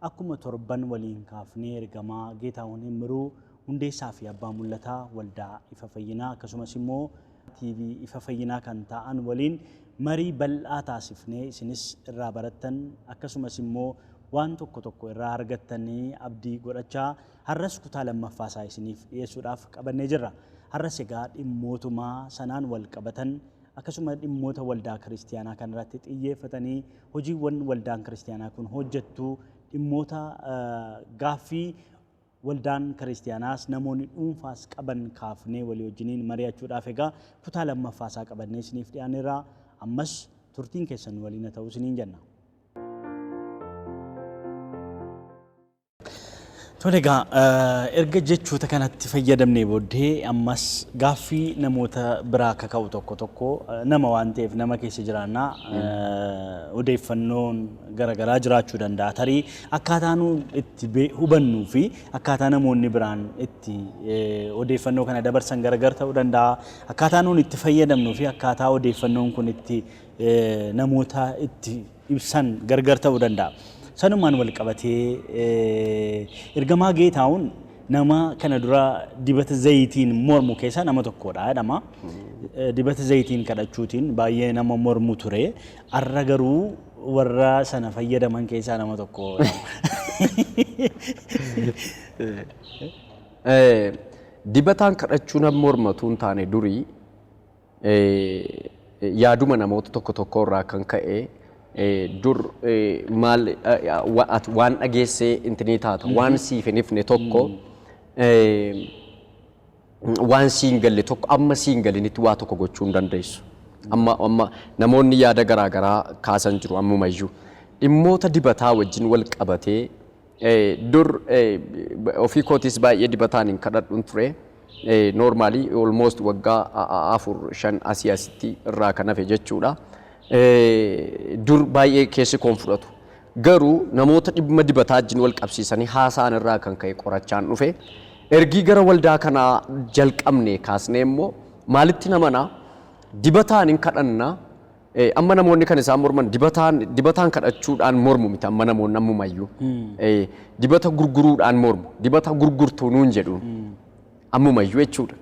Akkuma torban waliin kaafnee Ergamaa Geetaahun Immiruu, Hundeessaa fi Abbaa Mul'ataa Waldaa Ifa Fayyinaa akkasumas immoo TV Ifa Fayyinaa kan taa'an waliin marii bal'aa taasifnee isinis irraa barattan akkasumas immoo waan tokko tokko irraa argattan abdii godhachaa har'as kutaa lammaffaa isaa isiniif dhiyeessuudhaaf qabannee jirra. Har'as egaa dhimmootuma sanaan wal qabatan akkasuma dhimmoota waldaa kiristiyaanaa kan irratti xiyyeeffatanii hojiiwwan waldaan kiristiyaanaa kun hojjettu dhimmoota gaaffii waldaan kiristiyaanaas namoonni dhuunfaas qaban kaafnee walii wajjiniin mari'achuudhaaf egaa kutaa lammaffaa isaa qabannee isiniif dhiyaanneerra ammas turtiin keessan waliin haa ta'u isiniin jenna. Tole egaa erga jechoota kanatti fayyadamnee booddee ammas gaaffii namoota biraa akka ka'u tokko tokko nama waan ta'eef nama keessa jiraannaa odeeffannoon garaagaraa jiraachuu danda'a. Tarii akkaataa nu itti bee- hubannuu fi akkaataa namoonni biraan itti eh, odeeffannoo kana dabarsan garagar ta'uu danda'a. Akkaataa nuun itti fayyadamnuu fi akkaataa odeeffannoon kun itti eh, namoota itti ibsan gargar ta'uu danda'a. Sanumaan wal qabatee ergamaa Geetaawun nama kana dura dibata zayitiin mormu keessaa nama tokkodha jedhama. Dibata zayitiin kadhachuutiin baay'ee nama mormu ture. Har'a garuu warra sana fayyadaman keessaa nama tokko. Dibataan kadhachuu nama mormatu hin taane durii yaaduma namoota tokko tokkoo irraa kan ka'e dur maal waan dhageessee intinii taata waan siif hin ifne tokko waan siin galle tokko amma siin galinitti waa tokko gochuu hin dandeessu. Amma amma namoonni yaada garaa garaa kaasan jiru ammumayyuu dhimmoota dibataa wajjin wal qabatee Dur ofii kootiis baay'ee dibataan hin kadhadhun ture. Normally almost waggaa afur shan asii asitti irraa kan hafe jechuudha. Dur baay'ee keessi koon fudhatu. Garuu namoota dhimma dibataa wajjin wal qabsiisanii haasa'an irraa kan ka'e qorachaan dhufe. Ergii gara waldaa kanaa jalqabne kaasnee immoo maalitti namana dibataan hin kadhanna Ee, amma namoonni kan isaan morman dibataan dibataan kadhachuudhaan mormu miti amma namoonni ammumayyuu Ee, dibata gurguruudhaan mormu dibata gurgurtuu nuun jedhuun ammumayyuu jechuudha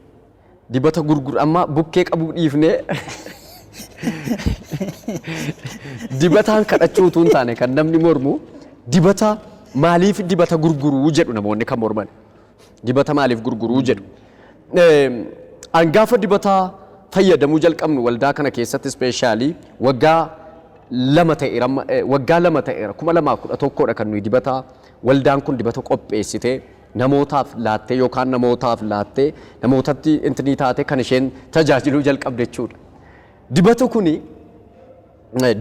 dibata gurgur amma bukkee qabuu dhiifnee dibataan kadhachuu utuu hin taane kan namni mormu dibata maaliif dibata gurguruu jedhu namoonni kan morman Dibata maaliif gurguruu jedhu. An gaafa dibata fayyadamuu jalqabnu waldaa kana keessatti ispeeshaalii waggaa lama ta'eera amma- eh, waggaa lama ta'eera kuma lamaa kudha tokkodha kan nuyi dibata waldaan kun dibata qopheessitee namootaaf laattee yookaan namootaaf laattee namootatti intinii taatee kan isheen tajaajiluu jalqabde jechuudha. Dibata kuni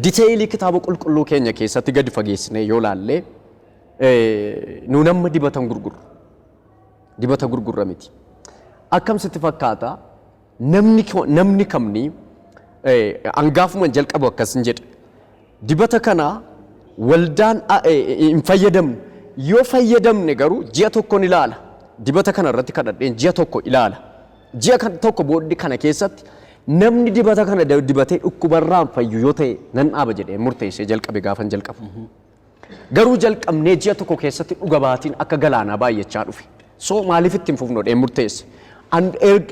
diteeyilii kitaaba qulqulluu keenya keessatti gadi fageessinee yoo laallee Nuun amma dibatan gurgurru. Dibata gurgurra miti. Akkam sitti fakkaata namni ko- namni kamni angaafuman jalqabu akkas hin jedhe. Dibata kana waldaan a- e- e- hin fayyadamnu. Yoo fayyadamne garuu ji'a tokkon ilaala. Dibata kana irratti kadhadheen ji'a tokko ilaala. Ji'a kan- tokko booddee kana keessatti namni dibata kana da- dibatee dhukkubarraan fayyu yoo ta'e nan dhaaba jedhee murteessee jalqabe gaafan jalqabu. Garuu jalqabnee ji'a tokko keessatti dhuga baatiin akka galaanaa baay'achaa dhufe. So maaliif itti hin fufnu jedheen murteesse. An erg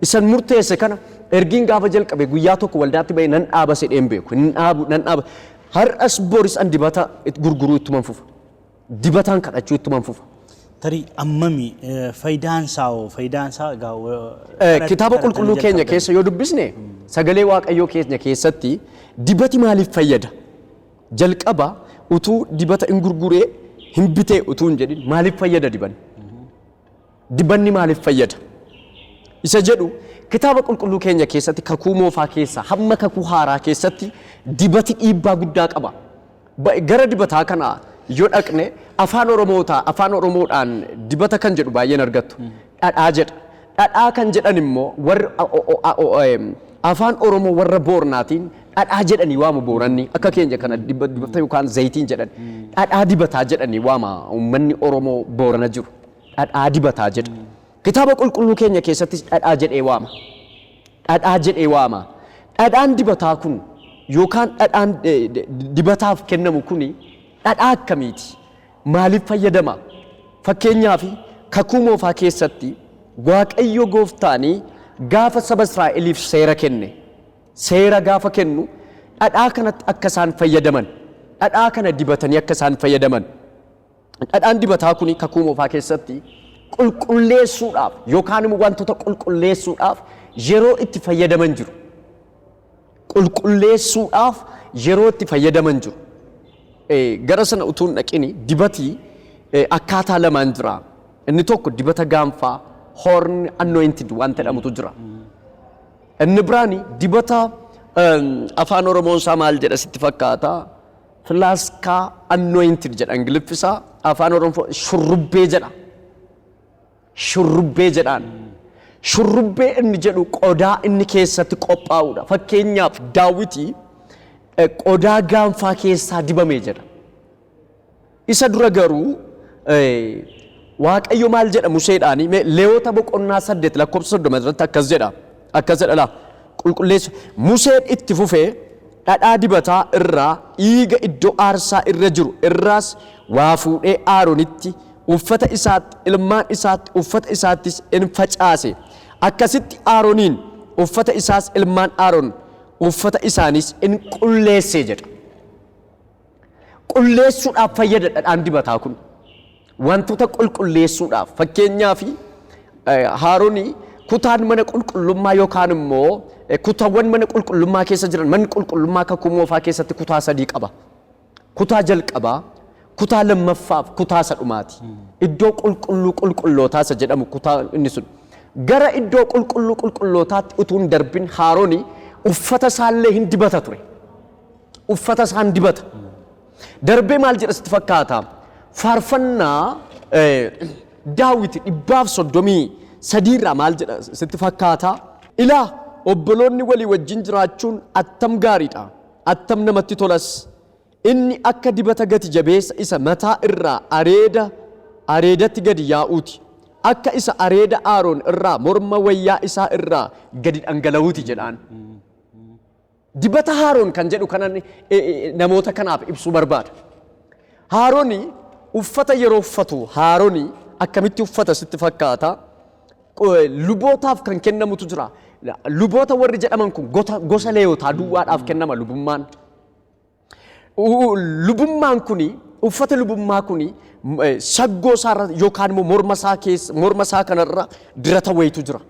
isan murteesse kana ergiin gaafa jalqabe guyyaa tokko waldaatti ba'ee nan dhaaba sedheen beeku. Hin dhaabu nan dhaaba. Har'as boris an dibata it- gurguruu ittuman fufa. Dibataan kadhachuu ittuman fufa. Tarii ammami eh, faayidaan isaa hoo faayidaan isaa egaa wa- Eh, kadhat- Kitaaba kadhatanii qulqulluu keenya jalqabdan. keessa yoo dubbisne sagalee waaqayyoo keenya keessatti dibati maaliif fayyada? Jalqaba utuu dibata in gurguree hin bitee utuu hin jedhin maaliif fayyada dibanni? Dibanni maaliif fayyada? Isa jedhu kitaaba qulqulluu keenya keessatti kakuu moofaa keessaa hamma kakuu haaraa keessatti dibati dhiibbaa guddaa qaba. Ba- Gara dibataa kana yoo dhaqne afaan oromootaa afaan oromoodhaan dibata kan jedhu baay'een argattu. dhadhaa jedha. Dhadhaa kan jedhan immoo warri Afaan Oromoo warra Boornaatiin dhadhaa jedhanii waamu Booranni akka keenya kana diba- dibata yookaan zayitiin jedhan dhadhaa dibataa jedhanii waama uummanni Oromoo Boorana jiru dhadhaa dibataa jedha. Kitaaba qulqulluu keenya keessattis dhadhaa jedhee waama. Dhadhaa jedhee waama. Dhadhaan dibataa kun yookaan dhadhaan eh, di- dibataaf kennamu kuni dhadhaa akkamiiti? maaliif fayyadama? Fakkeenyaaf, Kakuu Moofaa keessatti Waaqayyo gooftaan gaafa saba Israa'eliif seera kenne, seera gaafa kennu dhadhaa kanatti akka isaan fayyadaman, dhadhaa kana dibatanii akka isaan fayyadaman, dhadhaan dibataa kun kakuu moofaa keessatti qulqulleessuudhaaf yookaan immoo wantoota qulqulleessuudhaaf yeroo itti fayyadaman jiru. qulqulleessuudhaaf yeroo itti fayyadaman jiru. Gara sana utuu hin dhaqini dibati akkaataa lamaan jira. Inni tokko dibata gaanfaa horn anointed wanta jedhamutu jira. Inni biraan dibata afaan Oromoon isaa maal jedha sitti fakkaata? Filaaskaa anointed jedha Ingiliffi isaa afaan Oromoo shurrubbee jedha. Shurrubbee jedhaan. Shurrubbee inni jedhu qodaa inni keessatti qophaa'udha. Fakkeenyaaf Daawiti qodaa gaanfaa keessaa dibame jedha. Isa dura garuu Waaqayyo maal jedha Museedhaani? Mee Leewota boqonnaa 8 lakkoofsa 30 irratti akkas jedha. Akkas jedha la. Qulqulleessu. Museen itti fufee, Dhadhaa dibataa irraa, dhiiga iddoo aarsaa irra jiru irraas waa fuudhee Aaronitti, uffata isaatti, ilmaan isaatti, uffata isaattis in facaase. Akkasitti Aaroniin, uffata isaas ilmaan Aaron, uffata isaaniis in qulleesse jedha. Qulleessuudhaaf fayyada dhadhaan dibataa kun. Wantoota qulqulleessuudhaaf fakkeenyaaf haaroni kutaan mana qulqullummaa yookaan immoo kutawwan mana qulqullummaa keessa jiran manni qulqullummaa kakuu moofaa keessatti kutaa sadii qaba. Kutaa jalqabaa, kutaa lammaffaaf kutaa isa dhumaati. Iddoo qulqulluu qulqullootaa isa jedhamu kutaa inni sun. Gara iddoo qulqulluu qulqullootaatti utuu hin darbin haaroni uffata isaallee hin dibata ture. uffata isaan dibata. Darbee maal jedha sitti fakkaata? Faarfannaa daawwiti dhibbaaf soddomii sadiirraa maal jedha sitti fakkaata? Ilaa obboloonni walii wajjin jiraachuun attam gaariidha. Attam namatti tolas. Inni akka dibata gati jabeessa isa mataa irraa areeda areedatti gadi yaa'uuti. Akka isa areeda Aaroon irraa morma wayyaa isaa irraa gadi dhangala'uuti jedhaan. Dibata haaroon kan jedhu kanan eh, eh, namoota kanaaf ibsuu barbaada. Haaroni uffata yeroo uffatu haaroni akkamitti uffata sitti fakkaata? Qo- eh, Lubootaaf kan kennamutu jira. La- Luboota warri jedhaman kun gota- gosa leeyotaa duwwaadhaaf kennama lubummaan. U- lubummaan kuni uffata lubummaa kuni m- eh, saggoo isaarra yookaan immoo morma isaa keessa morma isaa kanarra dirata wayitu jira.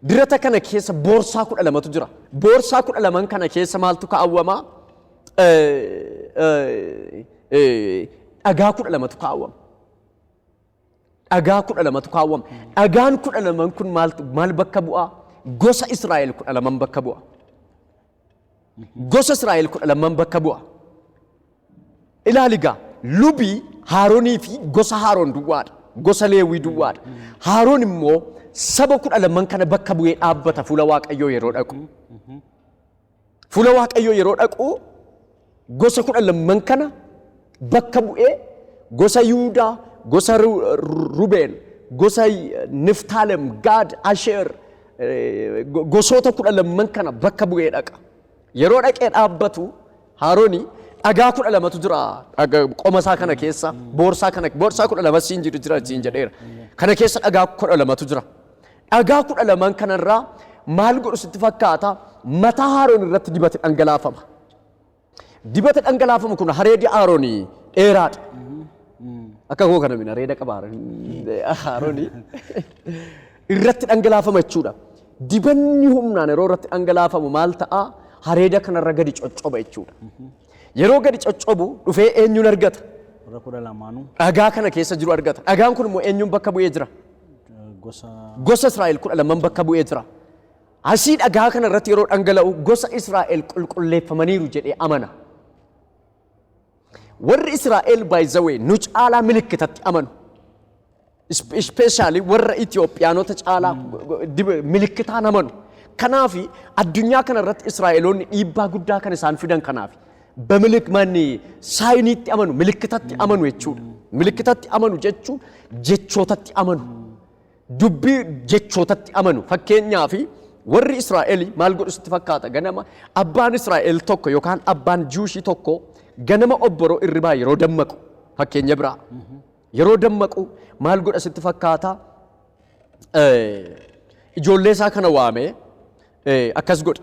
Dirata kana keessa boorsaa kudha lamatu jira. Boorsaa kudha laman kana keessa maaltu kaawwama? Dhagaa kudha lamatu kaawwama. Dhagaa kudha lamatu kaawwama. Dhagaan kudha laman kun maal bakka bu'aa? Gosa Israa'el kudha laman bakka bu'a. gosa Israa'el kudha lamman bakka bu'a. Ilaali gaa lubi Haaronii fi gosa Haaron duwwaadha. Gosa Leewwii duwwaadha. Haaron immoo saba kudha lamman kana bakka bu'ee dhaabbata fuula Waaqayyoo yeroo dhaqu. Fuula Waaqayyoo yeroo dhaqu Gosa kudha lamman kana bakka bu'ee gosa Yihudaa, gosa Ru- Ru- Rubeen, gosa Niftaalem, Gaad, Asheer eh, go- gosoota kudha lamman kana bakka bu'ee dhaqa. Yeroo dhaqee dhaabbatu Haarooni dhagaa kudha lamatu jira dhaga- qoma isaa kana keessa boorsaa kana boorsaa kudha lama siin jiru jira siin jedheera. Kana keessa dhagaa kudha lamatu jira. Dhagaa kudha lamaan kanarraa maal godhu sitti fakkaata mataa Haaroon irratti dibati dhangalaafama. Dibata dhangalaafamu kun hareedi Aaronii dheeraadha. Akka koo kana mina reeda qaba Aaronii. Irratti dhangalaafama jechuudha. Dibanni humnaan yeroo irratti dhangalaafamu maal ta'a? Hareeda kanarra gadi coccoba jechuudha. Yeroo gadi coccobu dhufee eenyuun argata? Warra kudha lamaanuu Dhagaa kana keessa jiru argata. Dhagaan kun immoo eenyuun bakka bu'ee jira? eh, gosa Gosa Israa'el kudha lamaan bakka bu'ee jira. Asii dhagaa kana irratti yeroo dhangala'u gosa Israa'el qulqulleeffamaniiru jedhee amana. Warri Israa'el baay'izawee nu caalaa milikkitatti amanu. Ispeeshaalii warra Itoophiyaanota caalaa milikkitaan amanu. Kanaaf addunyaa kana irratti Israa'eloonni dhiibbaa guddaa kan isaan fidan kanaaf. Bamilik manni saayiniitti amanu, milikkitatti amanu jechuudha. Milikkitatti amanu jechuun jechootatti amanu. Dubbii jechootatti amanu. Fakkeenyaaf, warri Israa'el maal godhu sitti fakkaata? Ganama abbaan Israa'el tokko yookaan abbaan Jiwushii tokko ganama obboroo irribaa yeroo dammaqu fakkeenya biraa yeroo dammaqu maal godha sitti fakkaata? Eh, Ijoollee isaa kana waamee eh, akkas godha.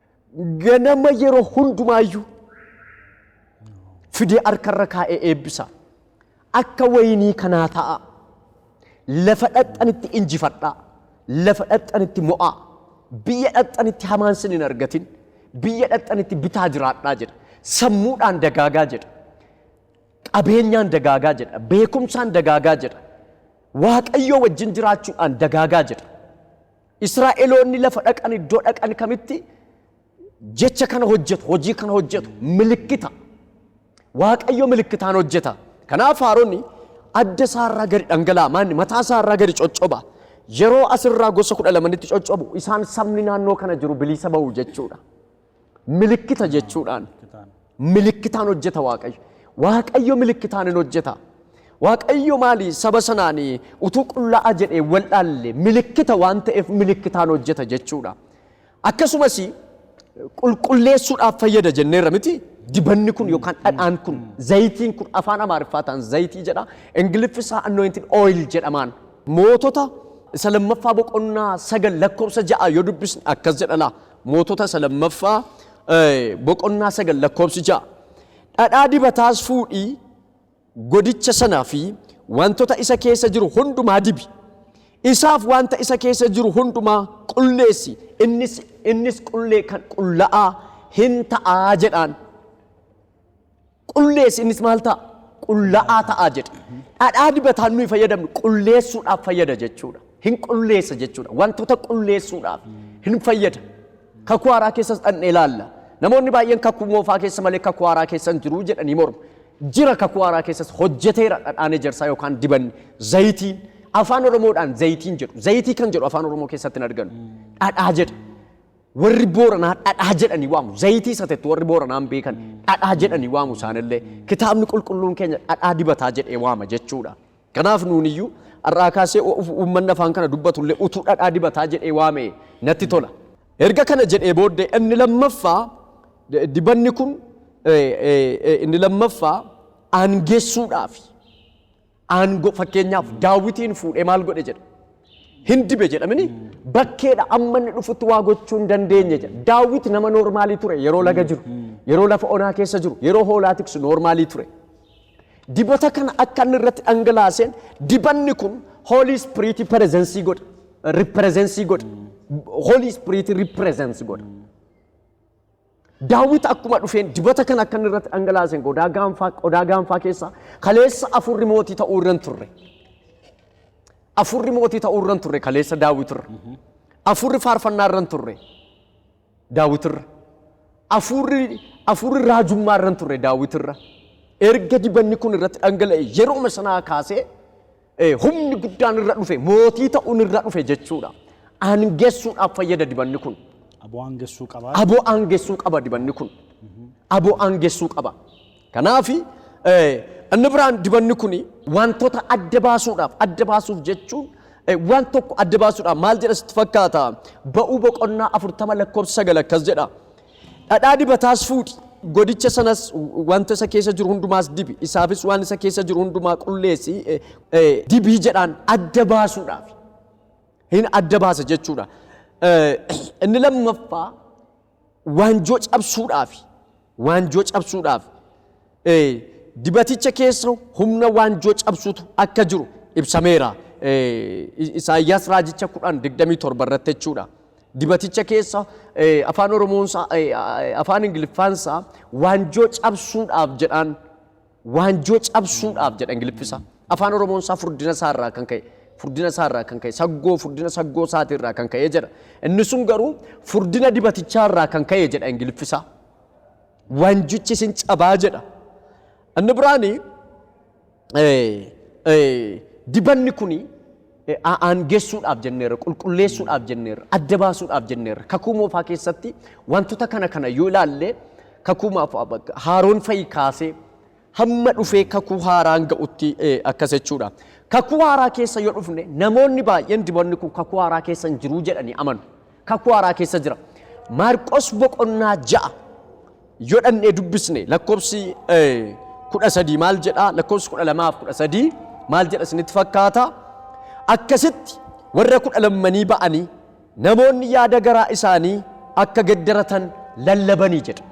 ganama yeroo hundumaayyuu fidee harkarra kaa'ee eebbisa. Akka wayinii kanaa ta'a. Lafa dhaqxanitti injifadhaa. Lafa dhaqxanitti mo'aa. Biyya dhaqxanitti hamaan sin hin argatin. Biyya dhaqxanitti bitaa jiraadhaa jedha. Sammuudhaan dagaagaa jedha. Qabeenyaan dagaagaa jedha. Beekumsaan dagaagaa jedha. Waaqayyoo wajjin jiraachuudhaan dagaagaa jedha. Israa'eloonni lafa dhaqan iddoo dhaqan kamitti jecha kana hojjetu, hojii kana hojjetu, milikkita. Waaqayyo milikkitaan hojjeta. Kanaaf Aaronni adda isaarraa gadi dhangala'a, maanni mataa isaarraa gadi coccoba. Yeroo asirraa gosa kudha lamanitti coccobu isaan sabni naannoo kana jiru bilisa ba'u jechuudha. Milikkita jechuudhaan. Milikkitaan hojjeta Waaqayyo. Waaqayyo milikkitaan hin hojjeta. Waaqayyo maali saba sanaan utuu qullaa'a jedhee wal dhaalle milikkita waan ta'eef milikkitaan hojjeta jechuudha. Akkasumas qulqulleessuudhaaf fayyada jenneerra miti dibanni kun yookaan dhadhaan kun zayitiin kun afaan amaariffaa ta'an zayitii jedha ingiliffi isaa anointed oil jedhamaan mootota isa lammaffaa boqonnaa sagal lakkoofsa ja'a yoo dubbisne akkas jedha laa Mootota isa lammaffaa boqonnaa 9 lakkoofsi 6. Dhadhaa dibataas fuudhii godicha sanaa fi wantoota isa keessa jiru hundumaa dibi. Isaaf wanta isa keessa jiru hundumaa qulleessi innis innis qullee kan qulla'aa hin ta'aa jedhaan. Qulleessi, innis maal ta'a? Qulla'aa ta'a jedhe. Dhadhaa dibataan nuyi fayyadamnu qulleessuudhaaf fayyada jechuudha. Hin qulleessa jechuudha. Wantoota qulleessuudhaaf hin fayyada. Kakuu haaraa keessas dhaqnee ilaalla. Namoonni baay'een kakuu moofaa keessa malee kakuu haaraa keessa hin jiru jedhanii mormu. Jira kakuu haaraa keessas hojjeteera dhadhaan ejersaa yookaan dibanni zayitiin. Afaan Oromoodhaan zayitiin jedhu. Zayitii kan jedhu afaan Oromoo keessatti hin arganu. Dhadhaa jedha. Warri Booranaa dhadhaa jedhanii waamu. Zayitii satettu warri Booranaa hin beekan. Dhadhaa jedhanii waamu isaanillee. Kitaabni qulqulluun keenya dhadhaa dibataa jedhee waama jechuudha. Kanaaf nuuniyyuu har'aa kaasee uummanni afaan kana dubbatullee utuu dhadhaa dibataa jedhee waame natti tola. Erga kana jedhee booddee inni lammaffaa dibanni kun inni lammaffaa aangessuudhaafi. Aango fakkeenyaaf daawwitiin fuudhee maal godhe jedha. Hin dibe jedhamini bakkeedha amma inni dhufutti waa gochuu hin dandeenye jedha. Daawwiti nama noormaalii ture yeroo laga jiru, yeroo lafa onaa keessa jiru, yeroo hoolaa tiksu noormaalii ture. Dibata kana akka inni irratti dhangalaaseen dibanni kun hoolii ispiriitii perezensii godha. Riperezensii godha. Hoolii ispiriitii riperezensii godha. Daawit akkuma dhufeen dibata kana akka inni irratti dhangalaaseen qodaa gaanfaa qodaa gaanfaa keessaa kaleessa afurri mootii ta'uu irra hin turre. Afurri mootii ta'uu irra hin turre kaleessa Daawit irra. Afurri faarfannaa irra hin turre Daawit irra. Afurri afurri raajummaa irra hin turre Daawit irra. Erga dibanni kun irratti dhangala'e yerooma sanaa kaasee Ee, humni guddaan irra dhufe, mootii ta'uun irra dhufe jechuudha. Aangessuudhaaf fayyada dibanni kun. Aboo aangessuu qabaa. Aboo aangessuu qaba dibanni kun. Aboo aangessuu qaba. Kanaaf inni biraan dibanni kun wantoota adda baasuudhaaf adda baasuuf jechuun eh, waan tokko adda baasuudhaaf maal jedha sitti fakkaata? Ba'uu boqonnaa afurtama lakkoofsa sagal akkas jedha. Dhadhaa dibataas fuudhi, godicha sanas, wanta isa keessa jiru hundumaas dibi, isaafis waan isa keessa jiru hundumaa qulleessi, dibi jedhaan adda baasuudhaaf. Hin adda baasa jechuudha. Inni lammaffaa waanjoo cabsuudhaaf, waanjoo cabsuudhaaf Dibaticha keessa humna waanjoo cabsutu akka jiru ibsameera. Isaayyaas raajicha 10:27 irratti jechuudha. Dibaticha keessa afaan Oromoonsaa afaan Ingiliffaansaa waanjoo cabsuudhaaf jedhaan waanjoo cabsuudhaaf jedha Ingiliffisa. Afaan Oromoonsaa furdina isaarraa kan ka'e furdina isaarraa kan ka'e saggoo furdina saggoo isaatiirraa kan ka'e jedha. Inni sun garuu furdina dibatichaarraa kan ka'e jedha Ingiliffisa. Waanjichis in cabaa jedha. Inni biraan dibanni kun aangessuudhaaf jenneerra, qulqulleessuudhaaf jenneerra, adda baasuudhaaf jenneerra. Kakuu moofaa keessatti wantoota kana kana yoo ilaalle kakuu haaroon fa'i kaasee hamma dhufee kakuu haaraan ga'utti akkas jechuudha. Kakuu haaraa keessa yoo dhufne namoonni baay'een dibanni kun kakuu haaraa keessa hin jiruu jedhanii amanu. Kakuu haaraa keessa jira. Maarqos boqonnaa ja'a yoo dhannee dubbisne lakkoofsi kudha sadii maal jedhaa lakkoofsi kudha lamaaf kudha sadii maal jedha isinitti fakkaata akkasitti warra kudha lammanii ba'anii Namoonni yaada garaa isaanii akka geddaratan lallabanii jedha.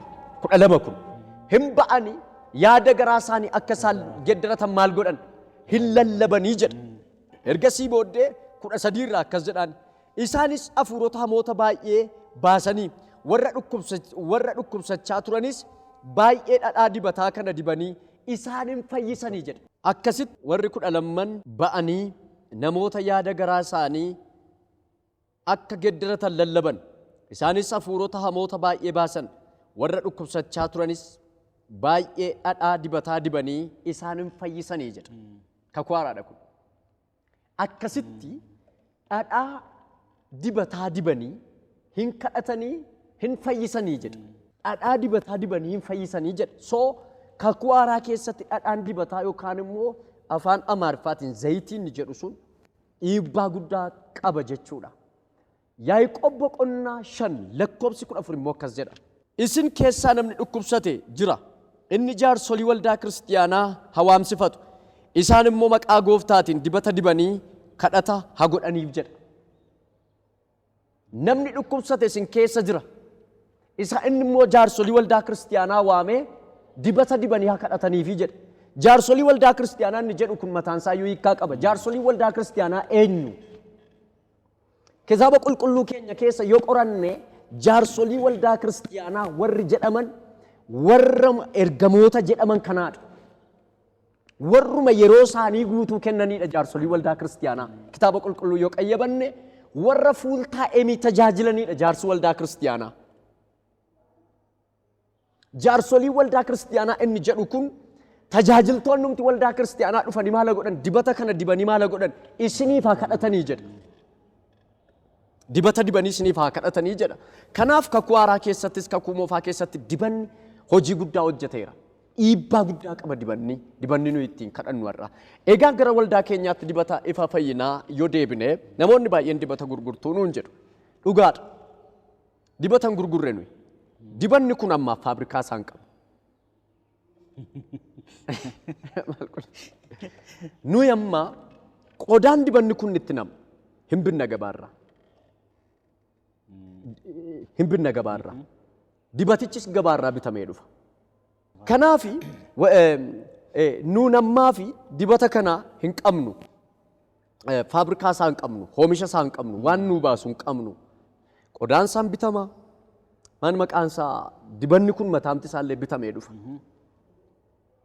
12 kun hin ba'anii yaada garaa isaanii akka isaan geddaratan maal godhan hin lallabanii jedha. Ergasii booddee 13 irraa akkas jedhaan isaanis hafuurota hamoota baay'ee baasanii warra dhukkubsa- warra dhukkubsachaa turanis baay'ee dhadhaa dibataa kana dibanii isaan hin fayyisanii jedha. Akkasitti warri kudha lamman ba'anii namoota yaada garaa isaanii akka geddaratan lallaban. Isaanis hafuurota hamoota baay'ee baasan, warra dhukkubsachaa turanis baay'ee dhadhaa dibataa dibanii isaan in fayyisanii jedha. Kakuu haaraadha kun. Akkasitti dhadhaa dibataa dibanii hin kadhatanii hin fayyisanii jedha. Dhadhaa dibataa dibanii hin fayyisanii jedha. So kakuu haaraa keessatti dhadhaan dibataa yookaan immoo afaan Amaariffaatiin zayitiin jedhu sun dhiibbaa guddaa qaba jechuudha. Yaaqoob boqonnaa 5 lakkoobsi 14 immoo akkas jedha. Isin keessaa namni dhukkubsate jira, inni jaarsolii waldaa kiristiyaanaa ha waamsifatu, isaan immoo maqaa gooftaatiin dibata dibanii kadhata ha godhaniif jedha. Namni dhukkubsate isin keessa jira. Isa inni immoo jaarsolii waldaa kiristiyaanaa waamee dibata dibanii haa kadhataniifi jedhe. Jaarsolii waldaa kiristiyaanaa inni jedhu kun mataan isaa iyyuu hiikkaa qaba. Jaarsolii waldaa kiristiyaanaa eenyu? Kitaaba qulqulluu keenya keessa yoo qoranne jaarsolii waldaa kiristiyaanaa warri jedhaman warra ergamoota jedhaman kanaadha. Warruma yeroo isaanii guutuu kennaniidha jaarsolii waldaa kiristiyaanaa. Kitaaba qulqulluu yoo qayyabanne warra fuul taa'emii tajaajilaniidha jaarsi waldaa kiristiyaanaa. Jaarsolii waldaa kiristiyaanaa inni jedhu kun tajaajiltoonnumti waldaa kiristiyaanaa dhufanii maala godhan dibata kana dibanii maala godhan isiniif haa kadhatanii jedha. Dibata dibanii isiniif haa kadhatanii jedha. Kanaaf kakuu haaraa keessattis kakuu moofaa keessatti dibanni hojii guddaa hojjeteera. Dhiibbaa guddaa qaba dibanni, dibanni nuyi ittiin kadhannu har'a. Egaa gara waldaa keenyaatti dibata ifa fayyinaa yoo deebine namoonni baay'een dibata gurgurtuu nuun jedhu. Dhugaadha. Dibata hin gurgurre nuyi. Dibanni kun ammaaf faabrikaa isaan qabu. Nuyi amma qodaan dibanni kun itti namu hin binna gabaarraa. Hin binna gabaarraa. Dibatichis gabaarraa bitamee dhufa. Kanaafi wa- eh, eh, nuun ammaa fi dibata kana hin qabnu. eh, faabrikaa isaan qabnu, hoomisha isaan qabnu, waan nuu baasu hin qabnu. Qodaan isaan bitama. Maan maqaan isaa dibanni kun mataamti isaallee bitamee dhufa.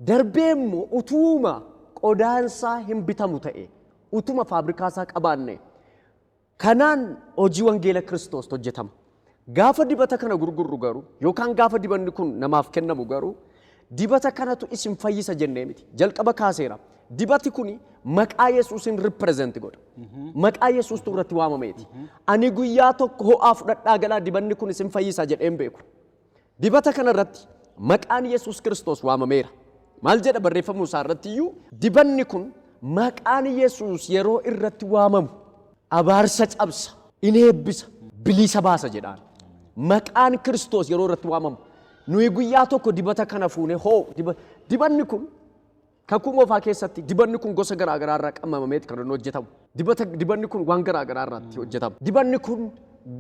Darbee immoo utuuma qodaan isaa hin bitamu ta'e, utuma faabrikaa isaa qabaanne, kanaan hojii wangeela Kiristoos hojjetama. Gaafa dibata kana gurgurru garuu yookaan gaafa dibanni kun namaaf kennamu garuu dibata kanatu isin fayyisa jennee miti. Jalqaba kaaseera. Dibati kuni maqaa Yesuusin represent godha. Maqaa Yesuustu irratti waamameeti. Ani guyyaa tokko ho'aa fudhadhaa galaa dibanni kun isin fayyisa jedheen beeku. Dibata kana irratti maqaan Yesuus Kiristoos waamameera. Maal jedha barreeffamuu isaa irratti iyyuu? Dibanni kun maqaan Yesuus yeroo irratti waamamu abaarsa cabsa, in eebbisa, bilisa baasa jedhaan. Maqaan Kiristoos yeroo irratti waamamu nuyi guyyaa tokko dibata kana fuune hoo diba, dibanni kun Kakuu Moofaa keessatti dibanni kun gosa garaa garaa irraa qammamameeti kan inni hojjetamu. Dibata dibanni kun waan garaa garaa irraatti hojjetama. Dibanni kun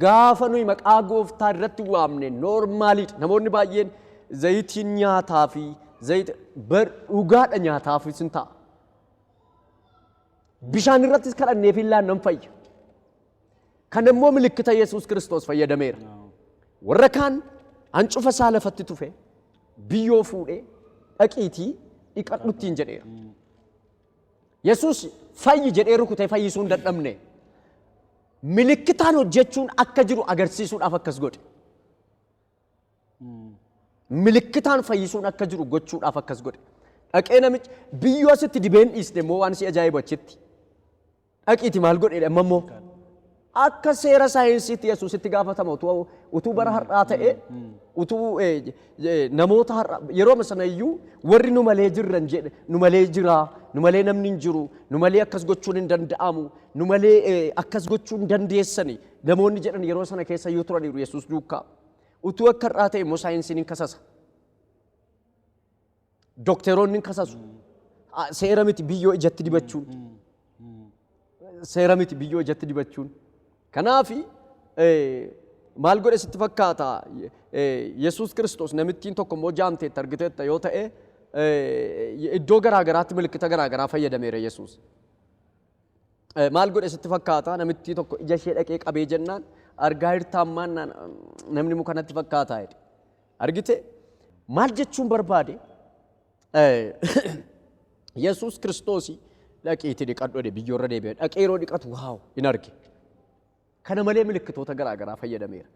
gaafa nuyi maqaa gooftaa irratti waamne noormaaliidha. Namoonni baay'een zayitiin nyaataa fi zayita bar dhugaadha nyaataafis hin ta'a. Bishaan irrattis kadhanneefi illaan nan fayya. Kana immoo milikkita Yesuus Kiristoos fayyadameera. Warra kaan hancufa isaa lafatti tufe biyyoo fuudhee dhaqiitii dhiqadhu ittiin jedheera. Yesuus fayyi jedhee rukutee fayyisuu hin dadhabne. Milikkitaan hojjechuun akka jiru agarsiisuudhaaf akkas godhe. Milikkitaan fayyisuun akka jiru gochuudhaaf akkas godhe. Dhaqee namichi biyyoo asitti dibeen dhiiste immoo waan si ajaa'ibu achitti. Dhaqiiti maal godheedha amma immoo? Akka seera saayinsiitti Yesuus itti gaafatama utuu utuu bara har'aa ta'e utuu eh, eh, namoota har'a yeroo amma sana iyyuu warri nu malee jirran jedhe nu malee jira nu malee namni hin jiru nu malee akkas gochuun hin danda'amu nu malee eh, akkas gochuu hin dandeessani namoonni jedhan yeroo sana keessa iyyuu turaniiru Yesuus duukaa utuu akka har'aa ta'e immoo saayinsiin hin kasasa. Dokteroonni hin kasasu. Ah, Seera miti biyyoo ijatti dibachuun. Seera miti biyyoo ijatti dibachuun. Kanaafi eh, maal godhe sitti fakkaata? Eh, Yesuus Kiristoos namittiin tokko immoo jaamteetta argiteetta yoo ta'e eh, iddoo garaa garaatti milikkita garaa garaa fayyadameera Yesuus. Maal godhe sitti fakkaata namittii tokko ija ishee dhaqee qabee jennaan argaa hirtaa ammaan namni muka natti fakkaataa jedhe. Argite maal jechuun barbaade Yesuus kiristoosii dhaqiitii dhiqadhu jedhe biyyoorra deebi'e dhaqee yeroo dhiqatu waaw hin arge. Kana malee milikkitoota garaa garaa fayyadameera.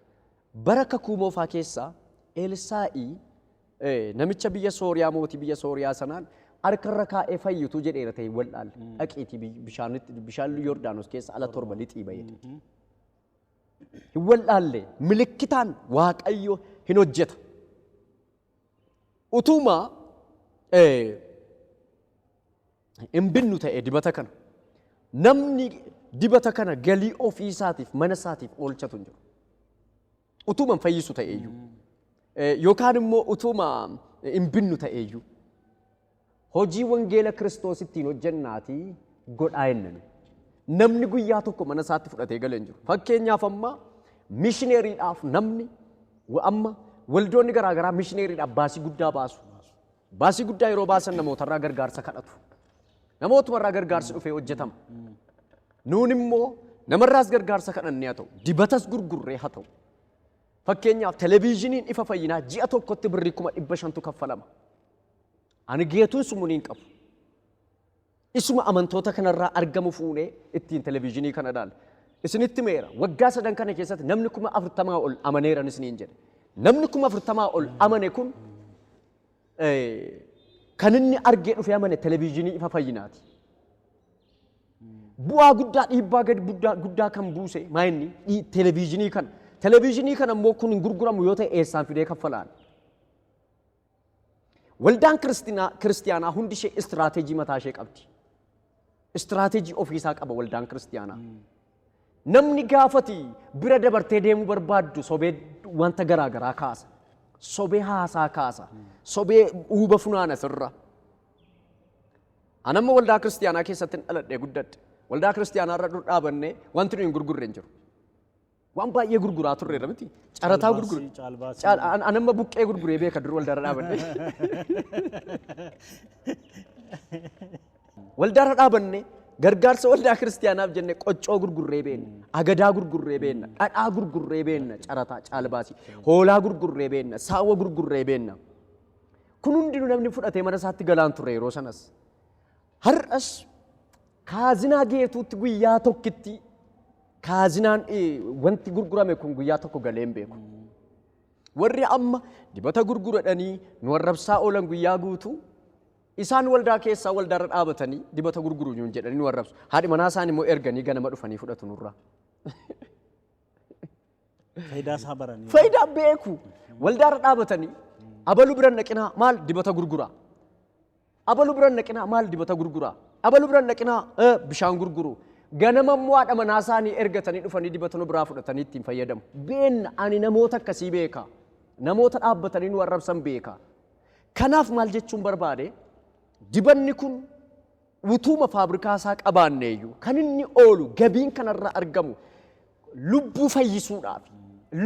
Bara Kakuu Moofaa keessa Eelsaa'i namicha biyya Sooriyaa mootii biyya Sooriyaa sanaan harka irra kaa'ee fayyitu jedheera ta'e wal'aalle. Dhaqiitii biy- bishaanitti bishaan Yordaanos keessa ala torba lixii ba'e. Hin wal'aalle milikkitaan Waaqayyo hin hojjeta. Utuma eh, hin binnu ta'e dibata kana. Namni dibata kana galii ofii isaatiif mana isaatiif oolchatu hin jiru. Utuuma hin fayyisu ta'e iyyuu. Yookaan immoo utuuma hin binnu ta'e iyyuu. Hojii wangeela Kiristoos ittiin hojjennaatii godhaa jennani. Namni guyyaa tokko mana isaatti fudhatee galee hin jiru. Fakkeenyaaf amma mishineeriidhaaf namni amma waldoonni garaagaraa mishineeriidhaaf baasii guddaa baasu. Baasii guddaa yeroo baasan namootarraa gargaarsa kadhatu. Namootumarraa gargaarsi dhufee hojjetama. Nuun immoo namarraas gargaarsa kadhannee haa ta'u, dibatas gurgurree haa ta'u. Fakkeenyaaf televiizhiniin ifa fayyinaa ji'a tokkotti birrii kuma dhibba shantu kaffalama. Ani geetuun sumuni hin qabu. Isuma amantoota kanarraa argamu fuunee ittiin televiizhinii kana ilaalla. Isinitti himeera, waggaa sadan kana keessatti namni kuma afurtamaa ol amaneeran isiniin jedhe. Namni kuma afurtamaa ol amane kun kan inni argee dhufee amane televiizhinii ifa fayyinaati. Bu'aa guddaa dhiibbaa gadi guddaa guddaa kan buuse maa inni Dhii- televiizhinii kana. Televiizhinii kana immoo kun hin gurguramu yoo ta'e eessaan fidee kaffalaan. Waldaan Kiristinaa- Kiristiyaanaa hundi ishee istiraateejii mataa ishee qabdi. Istiraateejii ofiisaa qaba waldaan Kiristiyaanaa. Namni gaafati bira dabartee deemuu barbaaddu sobee wanta garaa garaa kaasa. Sobee haasaa kaasa. Sobee uuba funaana sirra. Anamma waldaa kiristiyaanaa keessatti dhaladhee guddadhe. Waldaa kiristiyaanaa irra dur dhaabannee wanti nuyi hin gurgurre hin jiru. Waan baay'ee gurguraa turreerra miti. Carataa gurgure. Caalbaasii. Caal- an- an amma buqqee gurguree beeka dur waldaarra dhaabanne. Waldaarra dhaabanne gargaarsa waldaa kiristaanaaf jenne qoccoo gurgurree beenna, agadaa gurgurree beenna, dhadhaa gurgurree beenna, carataa caalbaasii, hoolaa gurgurree beenna, saawwa gurgurree beenna. Kun hundinuu namni fudhatee mana isaatti galaan ture yeroo sanas. Har'as kaazinaa geetuutti guyyaa tokkitti kaazinaan wanti gurgurame kun guyyaa tokko galee hin beeku. Warri amma dibata gurguradhanii nu arrabsaa oolan guyyaa guutuu isaan waldaa keessaa waldaarra dhaabatanii dibata gurguru nuun jedhanii nu arrabsu. Haadhi manaa isaan immoo erganii ganama dhufanii fudhatu nurraa. Fayidaa isaa baranii. Fayidaa beeku. Waldaarra dhaabatanii abalu biran dhaqinaa maal dibata gurguraa. Abalu biran dhaqinaa maal dibata gurgura? Abalu biran dhaqinaa eh, bishaan gurguru. Ganama immoo haadha manaa isaanii ergatanii dhufanii dibata nu biraa fudhatanii ittiin fayyadamu. Beenna ani namoota akkasii beeka. Namoota dhaabbatanii nu arrabsan beeka. Kanaaf maal jechuun barbaade? Dibanni kun utuuma faabrikaa isaa qabaanneeyyuu kan inni oolu gabiin kanarraa argamu lubbuu fayyisuudhaaf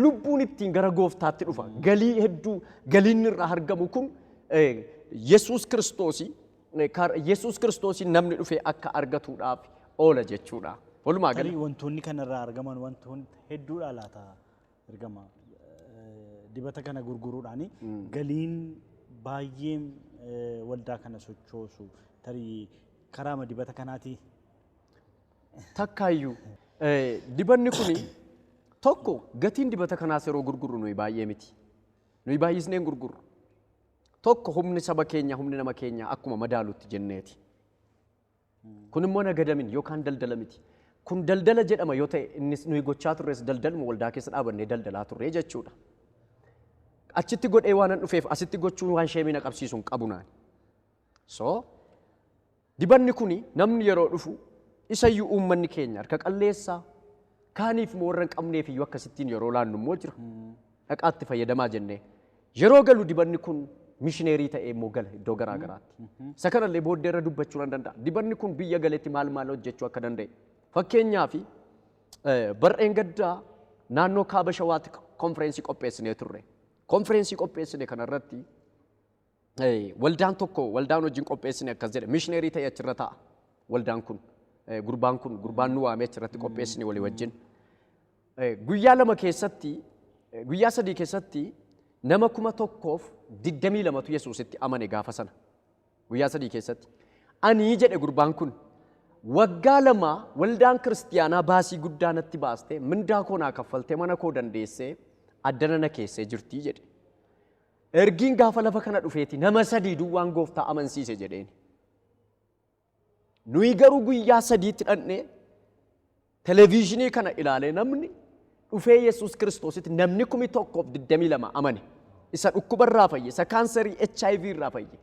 lubbuun ittiin gara gooftaatti dhufa. Galii hedduu galiin irraa argamu kun Yesuus Kiristoosii Yesuus Kiristoosiin namni dhufee akka argatuudhaaf oola jechuudha. Walumaa gala. Tarii wantoonni kanarraa argaman wantoonni hedduudha laata ergama dibata kana gurguruudhaan galiin baay'een waldaa kana sochoosu tarii karaama dibata kanaatii takkaayyuu. Dibanni kuni tokko gatiin dibata kanaas yeroo gurgurru nuyi baay'ee miti. Nuyi baay'isnee hin gurgurru. Tokko humni saba keenya humni nama keenya akkuma madaalutti jenneeti. Kun immoo nagadamin yookaan daldala miti. Kun daldala jedhama yoo ta'e innis nuyi gochaa turres daldaluma waldaa keessa dhaabannee daldalaa turre jechuudha. Achitti godhee waanan dhufeef asitti gochuun waan sheemii na qabsiisu hin qabu naani. So Dibanni kuni namni yeroo dhufu isayyuu uummanni keenya harka qalleessa, kaaniif immoo warra hin qabneef iyyuu akkasittiin yeroo laannu immoo jira. Dhaqaa itti fayyadamaa jennee. Yeroo galu dibanni kun mishineerii ta'ee immoo gala iddoo garaa garaatti. Isa kana illee booddee irra dubbachuu nan danda'a. Dibanni kun biyya galetti maal maal hojjechuu akka danda'e. Fakkeenyaaf bar'een gaddaa naannoo kaaba shawaatti konfireensii qopheessinee turre. Konfireensii qopheessine kanarratti Waldaan tokko waldaan wajjin qopheessine akkas jedhe mishineerii ta'e achirra ta'a waldaan kun gurbaan kun gurbaan nu waamee achirratti qopheessine walii wajjin guyyaa lama keessatti guyyaa sadii keessatti nama kuma tokkoof digdamii lamatu yesuusitti amane gaafa sana guyyaa sadii keessatti anii jedhe gurbaan kun waggaa lama waldaan kiristiyaanaa baasii guddaa natti baaste mindaa koo naa kaffalte mana koo dandeessee addana na keessee jirtii jedhe Ergiin gaafa lafa kana dhufeeti nama sadii duwwaan gooftaa amansiise jedheen. Nuyi garuu guyyaa sadiitti dhaqnee televiizhinii kana ilaalee namni dhufee Yesuus Kiristoositti namni kumi tokkoof digdamii lama amane. Isa dhukkuba irraa fayye, isa kaansarii HIV irraa fayye,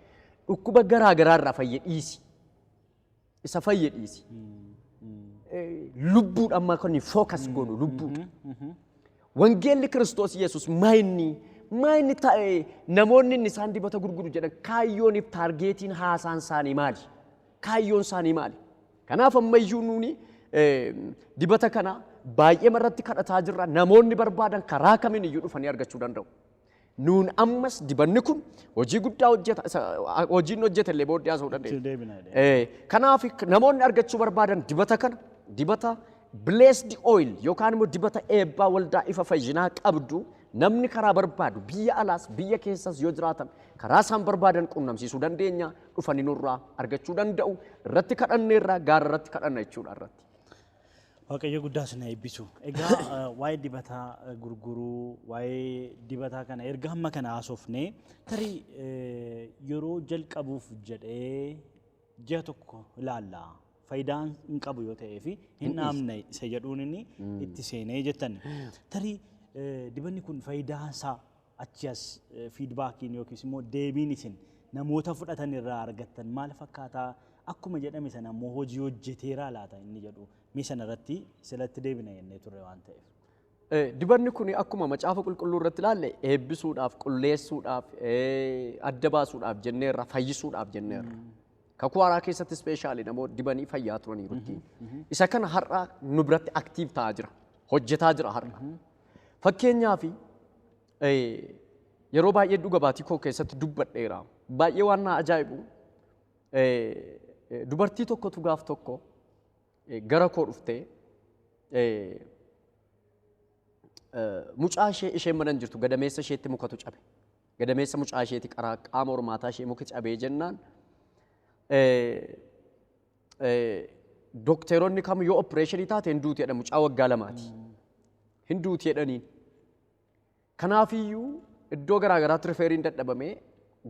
dhukkuba garaa garaa irraa fayye dhiisi. Isa fayye dhiisi. Lubbuudha amma kan fookas goonu lubbuudha. Wangeelli Kiristoos Yesuus maayinni maayinni taa'ee namoonni inni isaan dibata gurguru jedhan kaayyooniif taargeetiin haasaan isaanii maali? Kaayyoon isaanii maali? Kanaaf ammayyuu nuuni dibata kana baay'ee irratti kadhataa jirra. Namoonni barbaadan karaa kamiin iyyuu dhufanii argachuu danda'u. Nuun ammas dibanni kun hojii guddaa hojjeta. Isa hojiin hojjete illee booddee haasa'uu Itti dandeenya. deebina jedhee. Eh, Kanaaf namoonni argachuu barbaadan dibata kana dibata blessed oil yookaan immoo dibata eebbaa waldaa ifa fayyinaa qabdu namni karaa barbaadu biyya alaas biyya keessas yoo jiraatan karaa isaan barbaadan qunnamsiisuu dandeenya dhufanii nurraa argachuu danda'u irratti kadhanneerraa gaara irratti kadhanna jechuudha irratti. Waaqayyo guddaa isin haa eebbisu. Egaa eh, waa'ee dibataa eh, gurguruu, waa'ee dibataa kana erga hamma kana haasofne tarii eh, yeroo jalqabuuf jedhee ji'a tokko ilaalla. Faayidaan hin qabu yoo ta'ee fi hin dhaamne isa jedhuun inni itti seenee jettan. Tarii eh, dibanni kun faayidaan isaa Achii as fiidbaakiin yookiis immoo deebiin isin namoota fudhatan irraa argattan maal fakkaataa? Akkuma jedhame sana immoo hojii hojjeteeraa laata inni jedhu mee sana irratti silatti deebina jennee turre waan ta'eef. Dibanni kun akkuma macaafa qulqulluu irratti ilaalle eebbisuudhaaf, qulleessuudhaaf, adda baasuudhaaf jenneerra, fayyisuudhaaf jenneerra. Kakuu haaraa keessatti ispeeshaalii namoota dibanii fayyaa turaniiru. Isa kana har'a nu biratti aktiiv ta'aa jira. Hojjetaa jira har'a. Fakkeenyaaf yeroo baay'ee dhuga baatii koo keessatti dubbadheera. Baay'ee waan na ajaa'ibu dubartii tokkotu gaaf tokko gara koo dhuftee mucaa ishee isheen mana hin jirtu gadameessa isheetti mukatu cabe. Gadameessa mucaa isheetti qaraa qaama hormaataa ishee muki cabee jennaan Dokteeronni kam yoo oppireeshinii taate hin duuti jedha mucaa waggaa lamaati. Hin duuti jedhaniin. Kanaafiyyuu iddoo garaa garaatti rifeeriin dadhabamee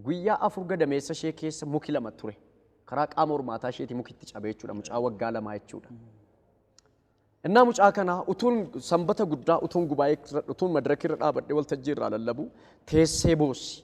guyyaa afur gadameessa ishee keessa muki lama ture. Karaa qaama hormaataa isheeti muki itti cabee jechuudha mucaa waggaa lamaa jechuudha. Innaa mucaa kana utuun sanbata guddaa utuun gubaa'ee irra- utuun madirakii irra dhaabadhee waltajjii irraa lallabu teessee boossi.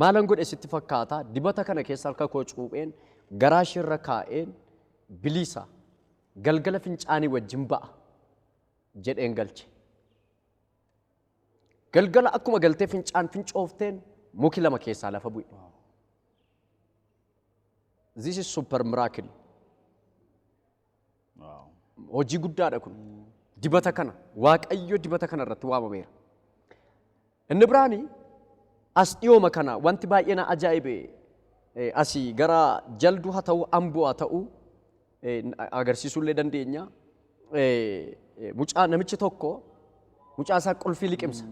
Maalan godhe sitti fakkaata? Dibata kana keessa harka koo cuupheen garaa ishee irra kaa'een biliisa. Galgala fincaanii wajjin ba'a jedheen galche. Galgala akkuma galtee fincaan fincoofteen muki lama keessaa lafa bu'e. This is super miracle. Hojii guddaadha kun. Dibata kana waaqayyo dibata kana irratti waamameera. Inni biraani as dhiyooma kana wanti baay'ee na ajaa'ibe eh, asii gara jalduu haa ta'u amboo haa ta'u eh, n- agarsiisuu illee dandeenya. Eh, eh, Mucaa namichi tokko mucaa isaa qulfii liqimsa.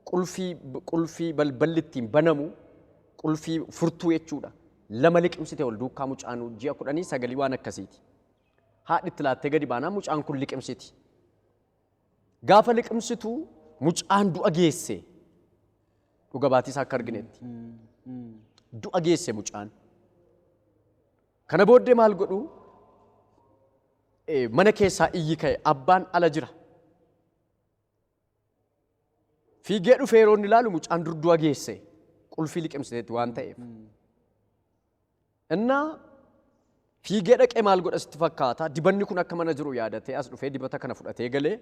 Qulfii qulfii balballi ittiin banamu qulfii furtuu jechuudha. lama liqimsite ol duukkaa mucaan ji'a kudhanii sagalii waan akkasiiti. Haadhi itti laattee gadi baanaan mucaan kun liqimsiti. Gaafa liqimsitu mucaan du'a geesse dhuga baatii isaa akka arginetti. Du'a geesse mucaan. Kana booddee maal godhu? Eh, Mana keessaa iyyi ka'e abbaan ala jira. Fiigee dhufee yeroo inni ilaalu mucaan durdu'a geesse qulfii liqimsiteetti waan ta'eef. Innaa fiigee dhaqee maal godha sitti fakkaata dibanni kun akka mana jiru yaadatee as dhufee dibata kana fudhatee galee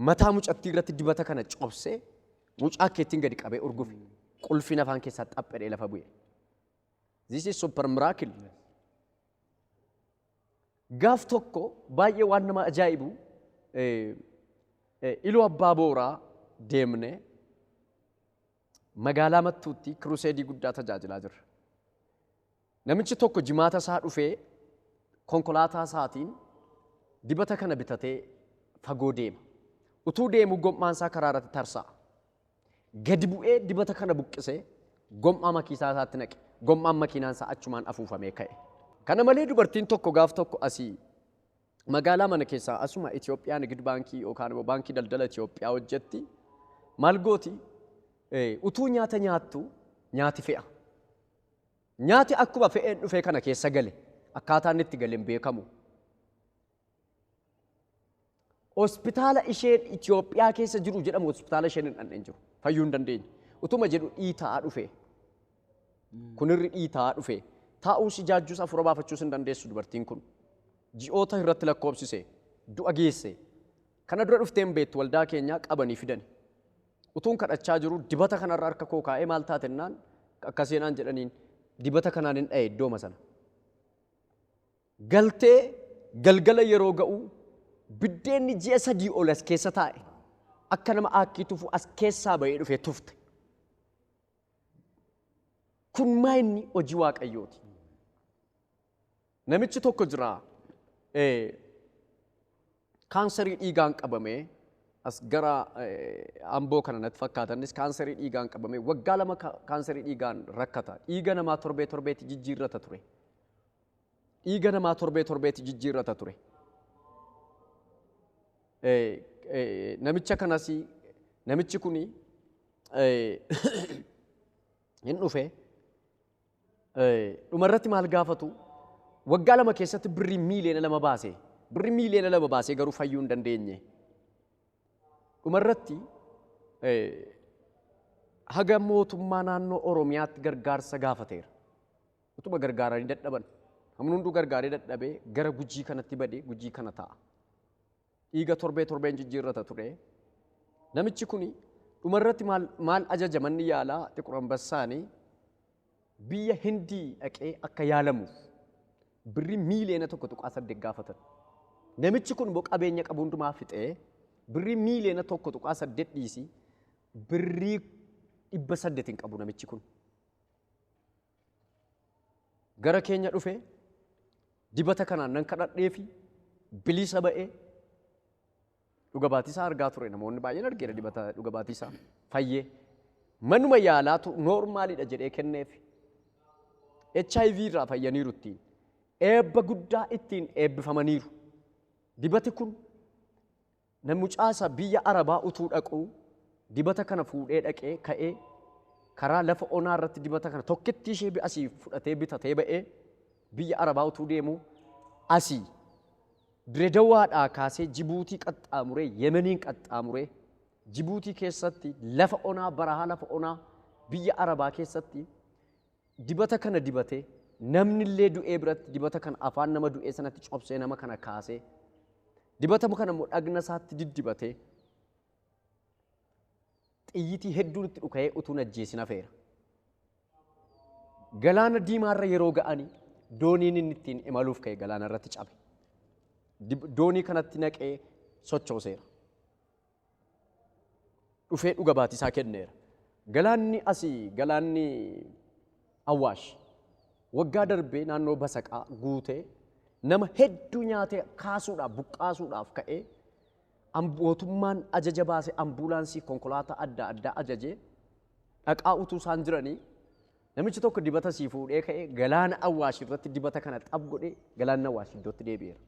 mataa mucattii irratti dibata kana cobsee mucaa keettiin gadi qabee urgufe qulfiin afaan keessaa xaphedhee lafa bu'e. This is super miracle. Gaaf tokko baay'ee waan nama ajaa'ibu Iluu Abbaa Booraa deemne magaalaa Mattuutti kiruseedii guddaa tajaajilaa jirra. Namichi tokko jimaata isaa dhufee konkolaataa isaatiin dibata kana bitatee fagoo deema. Utuu deemuu gom'aan isaa karaa irratti tarsa'a. Gadi bu'ee dibata kana buqqisee gom'aa makiisaa isaatti naqe. Gom'aan makiinaan isaa achumaan afuufamee ka'e. Kana malee dubartiin tokko gaaf tokko asi magaalaa mana keessaa asuma Itoophiyaa Nigid Baankii yookaan immoo Baankii Daldala Itoophiyaa hojjetti maal gooti utuu nyaata nyaattu nyaati fe'a. Nyaati akkuma fe'een dhufee kana keessa gale akkaataa inni itti gale hin beekamu. Hospitaala isheen Itoophiyaa keessa jiru jedhamu hospitaala isheen hin dhandheen jiru. Fayyuu hin dandeenye. Utuma jedhu dhiitaa dhufe. Kunirri dhiitaa dhufe. Taa'uus ijaajjuus afuura baafachuus hin dandeessu dubartiin kun. Ji'oota irratti lakkoobsise. Du'a geesse. Kana dura dhuftee hin beektu waldaa keenyaa qabanii fidani. Utuun kadhachaa jiru dibata kanarra harka koo kaa'ee maal taatennaan akkaseenaan jedhaniin dibata kanaan hin dha'e iddooma sana. Galtee, Galgala yeroo ga'u biddeenni ji'a sadii ol as keessa taa'e akka nama aakkii tufu as keessaa ba'ee dhufee tufte. Kun maa inni hojii waaqayyooti. Namichi tokko jira kaansarii dhiigaan qabamee as gara amboo kana natti fakkaatanis kaansarii dhiigaan qabamee waggaa lama kaansarii dhiigaan rakkata. Dhiiga namaa torbee torbeetti jijjiirrata ture. Dhiiga namaa torbee torbeetti jijjiirrata ture. Namicha kanas namichi kun hin dhufe. Dhumarratti maal gaafatu? Waggaa lama keessatti birrii miiliyoona lama baase. Birrii miiliyoona lama baasee garuu fayyuu hin dandeenye. Dhumarratti haga mootummaa naannoo Oromiyaatti gargaarsa gaafateera. Utuma gargaaranii dadhaban. Namni hunduu gargaaree dadhabee gara gujii kanatti badee gujii kana ta'a. Dhiiga torbee torbeen jijjiirrata ture. Namichi kun dhumarratti maal, maal ajaja manni yaalaa xiqur ambassaanii biyya Hindii dhaqee akka yaalamuuf birrii miiliyoona tokko tuqaa saddeet gaafatan. Namichi kun immoo qabeenya qabu hundumaa fixee birrii miiliyoona tokko tuqaa saddeet dhiisi birrii dhibba saddeet hin qabu namichi kun. gara keenya dhufe dibata kanaan nan kadhadhee fi bilisa ba'ee dhuga baatisaa argaa ture namoonni baay'een argeera dibata dhuga baatisaa fayyee manuma yaalaatu noormaalidha jedhee kenneef HIV irraa fayyaniiru ittiin eebba guddaa ittiin eebbifamaniiru dibati kun Nan mucaasa biyya Arabaa utuu dhaquu dibata kana fuudhee dhaqee ka'ee karaa lafa onaa irratti dibata kana tokkittii ishee bi- asii fudhatee bitatee ba'ee biyya Arabaa utuu deemu asii Diredawaadhaa kaasee Jibuutii qaxxaamuree Yemeniin qaxxaamuree Jibuutii keessatti lafa onaa barahaa lafa onaa biyya Arabaa keessatti Dibata kana dibatee namni illee du'ee biratti dibata kana afaan nama du'ee sanatti cobsee nama kana kaasee dibata kana immoo dhagna isaatti diddibatee xiyyitii hedduun itti dhuka'ee utuu hin ajjeesin hafeera. Galaana diimaarra yeroo ga'anii dooniin inni ittiin imaluuf ka'e galaana irratti cabe. Dib- Doonii kanatti naqee sochooseera. dhufee dhuga baatisaa kenneera. Galaanni asii galaanni Awwaash waggaa darbee naannoo Basaqaa guutee nama hedduu nyaatee kaasuudhaaf buqqaasuudhaaf ka'ee mootummaan ajaja baase ambuulaansii konkolaataa adda addaa ajajee dhaqaa utuu isaan jiranii namichi tokko dibata sii fuudhee ka'ee galaana Awwaash irratti dibata kana xab godhee galaanni Awwaash iddootti deebi'eera.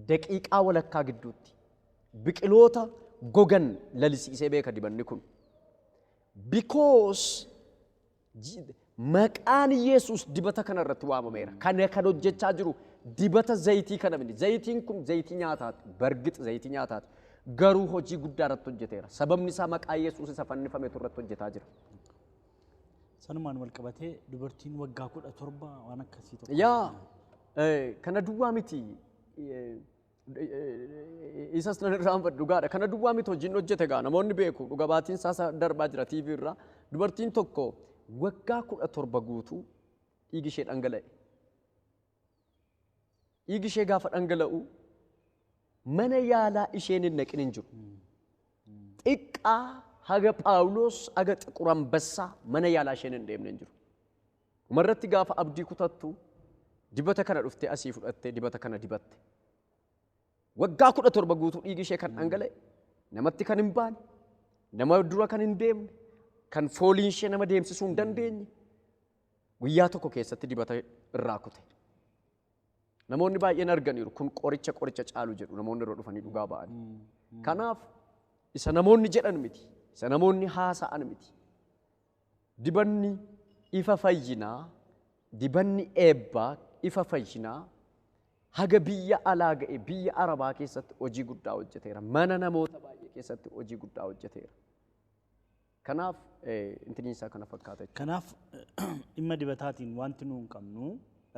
Daqiiqaa walakkaa gidduutti biqiloota gogan lalisiisee beeka dibanni kun. Because maqaan Yesuus dibata kana irratti waamameera. Kana kan hojjechaa jiru dibata zayitii kana miti. Zayitiin kun zayitii nyaataati. Bargix zayitii nyaataati. Garuu hojii guddaa irratti hojjeteera. Sababni isaa maqaa Yesuus isa fannifametu irratti hojjetaa jira. Sanumaan wal qabatee dubartiin waggaa kudha torba waan akkasii tokko. Yaa eh, kana duwwaa miti eh, eh, isas nan irraanfadhu dhugaadha. Kana duwwaa miti hojiin hojjete gaa namoonni beeku dhuga baatiin isaas darbaa jira TV irraa. Dubartiin tokko waggaa kudha torba guutuu dhiigi ishee dhangala'e. Dhiigi ishee gaafa dhangala'u mana yaalaa isheen hin dhaqin hin jiru. Xiqqaa haga Phaawulos haga xiqur ambassaa mana yaalaa isheen hin deemne hin jiru. Dhumarratti gaafa abdii kutattu dibata kana dhuftee asii fudhattee dibata kana dibatte. Waggaa kudha torba guutuu dhiigi ishee kan dhangala'e namatti kan hin baane nama dura kan hin deemne kan fooliin ishee nama deemsisuu hin dandeenye Guyyaa tokko keessatti dibata irraa kute. Namoonni baay'een arganiiru kun qoricha qoricha caalu jedhu namoonni irra dhufanii dhugaa ba'an. Kanaaf isa namoonni jedhan miti, isa namoonni haasa'an miti. Dibanni ifa fayyinaa, dibanni eebbaa, ifa fayyinaa haga biyya alaa ga'e biyya Arabaa keessatti hojii guddaa hojjeteera. Mana namoota baay'ee keessatti hojii guddaa hojjeteera. Kanaaf intiniin isaa kana fakkaata jechuudha. Kanaaf dhimma dibataatiin wanti nuun qabnu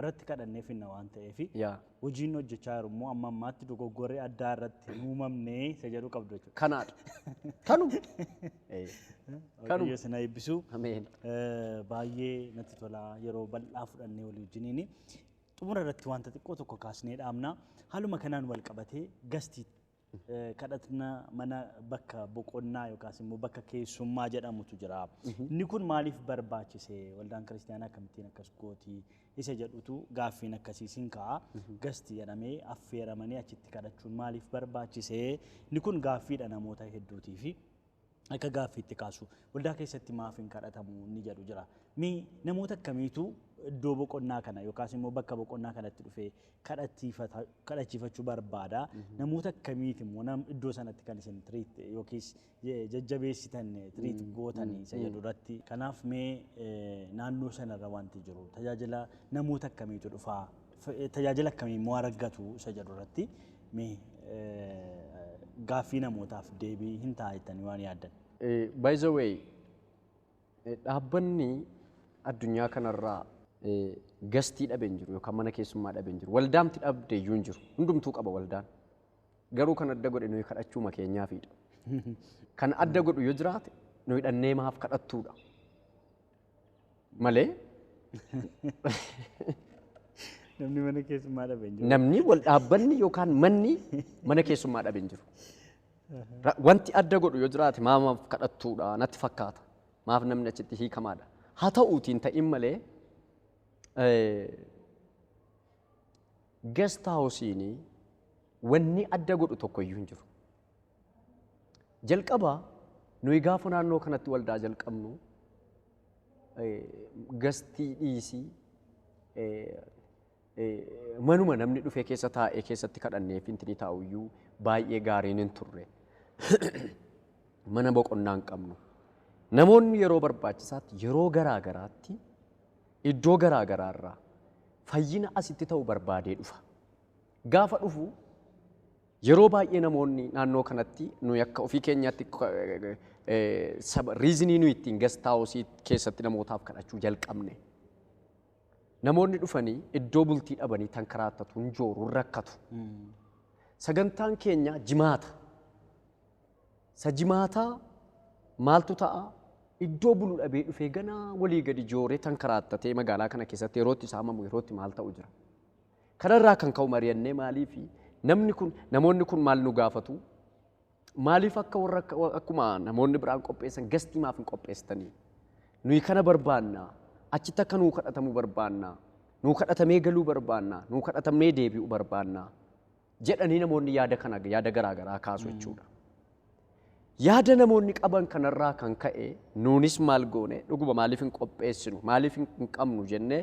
irratti kadhannee finna waan ta'eef Yaa. hojiin hojjechaa jiru immoo amma ammaatti dogoggorri addaa irratti hin uumamne isa jedhu qabdu jechuudha. Kanaadha. Kanuma. Eh, Waaqayyo isin haa eebbisu. Ameen. Eh, Baay'ee natti tola yeroo bal'aa fudhannee walii wajjiniin xumura irratti wanta xiqqoo tokko kaasnee dhaamna. Haaluma kanaan wal qabatee gastii kadhatna mana bakka boqonnaa yookaas immoo bakka keessummaa jedhamutu jira. Inni kun maaliif barbaachise? Waldaan kiristaanaa akkamittiin akkas gooti? Isa jedhutu gaaffiin akkasiis hin ka'a. Gasti jedhamee affeeramanii achitti kadhachuun maaliif barbaachise? Inni kun gaaffiidha namoota hedduutiifi. akka gaaffiitti kaasu. Waldaa keessatti maaf hin kadhatamu inni jedhu jira. Mee namoota akkamiitu iddoo boqonnaa kana yookaas immoo bakka boqonnaa kanatti dhufee kadhatiifata- kadhachiifachuu barbaada? Namoota akkamiiti immoo nam- iddoo sanatti kan isin tiriit yookiis je- jajjabeessitan tiriit gootan isa jedhu irratti. Kanaaf mee eh, naannoo sanarra wanti jiru tajaajila namoota akkamiitu dhufaa? Tajaajila akkamii immoo argatu isa jedhu irratti mee gaaffii namootaaf deebii hin ta'a jettanii waan yaaddan? By the way, dhaabbanni addunyaa kanarraa gastii dhabe hin jiru yookaan mana keessummaa dhabe hin jiru. Waldaamti dhabde iyyuu hin jiru. Hundumtuu qaba waldaan. Garuu kan adda godhe nuyi kadhachuuma keenyaafiidha. Kan adda godhu yoo jiraate nuyi dhannee maaf kadhattuudha. Malee Namni mana keessummaa dhabe hin jiru. namni wal dhaabbanni yookaan manni mana keessummaa dhabe hin jiru. Ra- Wanti adda godhu yoo jiraate maamaaf kadhattuudha natti fakkaata. Maaf namni achitti hiikamaadha. Haa ta'uutiin ta'in malee gest haawusiin wanni adda godhu tokko iyyuu hin jiru. Jalqaba nuyi gaafa naannoo kanatti waldaa jalqabnu gastii dhiisii manuma namni dhufee keessa taa'ee keessatti kadhannee fintinii taa'uyyuu baay'ee gaariin hin turre. Mana boqonnaa hin qabnu. Namoonni yeroo barbaachisaatti yeroo garaa garaatti iddoo garaa garaarraa fayyina asitti ta'u barbaadee dhufa. Gaafa dhufu Yeroo baay'ee namoonni naannoo kanatti nuyi akka ofii keenyaatti riizinii nuyi ittiin gast haawusii keessatti namootaaf kadhachuu jalqabne. Namoonni dhufanii iddoo bultii dhabanii tan karaattatu hin jooru hin rakkatu. Sagantaan keenya jimaata. Sa jimaataa maaltu ta'a? Iddoo bulu dhabee dhufee ganaa walii gadi jooree tan karaattatee magaalaa kana keessatti yerootti saamamu yerootti maal ta'u jira. Kanarraa kan ka'u mari'annee maaliif namni kun namoonni kun maal nu gaafatu? Maaliif akka warra akkuma namoonni biraan qopheessan gastii maaf hin qopheessitanii? Nuyi kana barbaanna. Achitti akka nuu kadhatamu barbaanna. Nuu kadhatamee galuu barbaanna. Nuu kadhatamnee deebi'u barbaanna. jedhanii namoonni yaada kana yaada garaa garaa kaasu jechuudha. Yaada namoonni qaban kanarraa kan ka'e nuunis maal goone dhuguma maaliif hin qopheessinu maaliif hin hin qabnu jennee